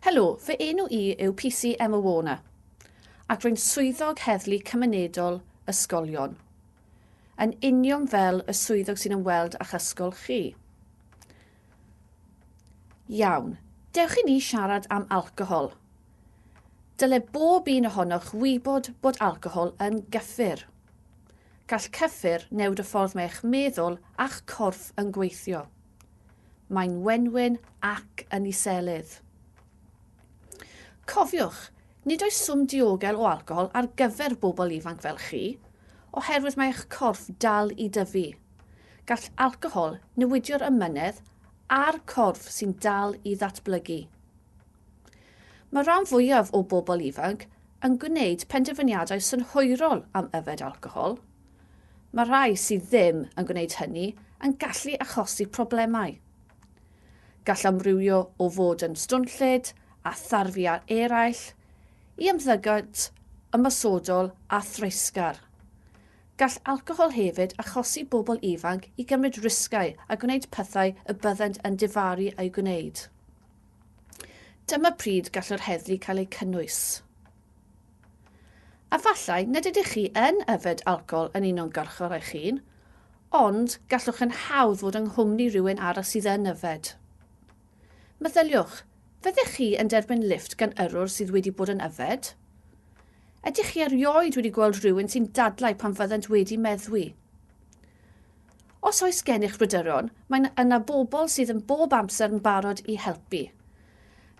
Helo, fy enw i yw PC Emma Warner, ac rwy'n Swyddog Heddlu Cymunedol Ysgolion, yn union fel y swyddog sy'n ymweld â'ch ysgol chi. Iawn, dewch i ni siarad am alcohol. Dyle bob un ohonoch wybod bod alcohol yn gyffur. Gall cyffur newid y ffordd mae'ch meddwl a'ch corff yn gweithio. Mae'n wenwyn ac yn iselydd. Cofiwch, nid oes swm diogel o alcohol ar gyfer bobl ifanc fel chi, oherwydd mae eich corff dal i dyfu. Gall alcohol newidio'r ymynedd a'r corff sy'n dal i ddatblygu. Mae rhan fwyaf o bobl ifanc yn gwneud penderfyniadau synhwyrol am yfed alcohol. Mae rhai sydd ddim yn gwneud hynny yn gallu achosi problemau. Gall amrywio o fod yn stwnllyd a tharfu ar eraill, i ymddygiad ymosodol a threisgar. Gall alcohol hefyd achosi bobl ifanc i gymryd risgau a gwneud pethau y byddent yn difaru a'u gwneud. Dyma pryd gall yr heddlu cael eu cynnwys. Efallai nad ydych chi yn yfed alcohol yn uniongyrchol eich hun, ond gallwch yn hawdd fod yng nghwmni rhywun arall sydd yn yfed. Meddyliwch, fyddech chi yn derbyn lifft gan yrrwr sydd wedi bod yn yfed? Ydych chi erioed wedi gweld rhywun sy'n dadlau pan fyddant wedi meddwi? Os oes gennych bryderon, mae yna bobl sydd yn bob amser yn barod i helpu.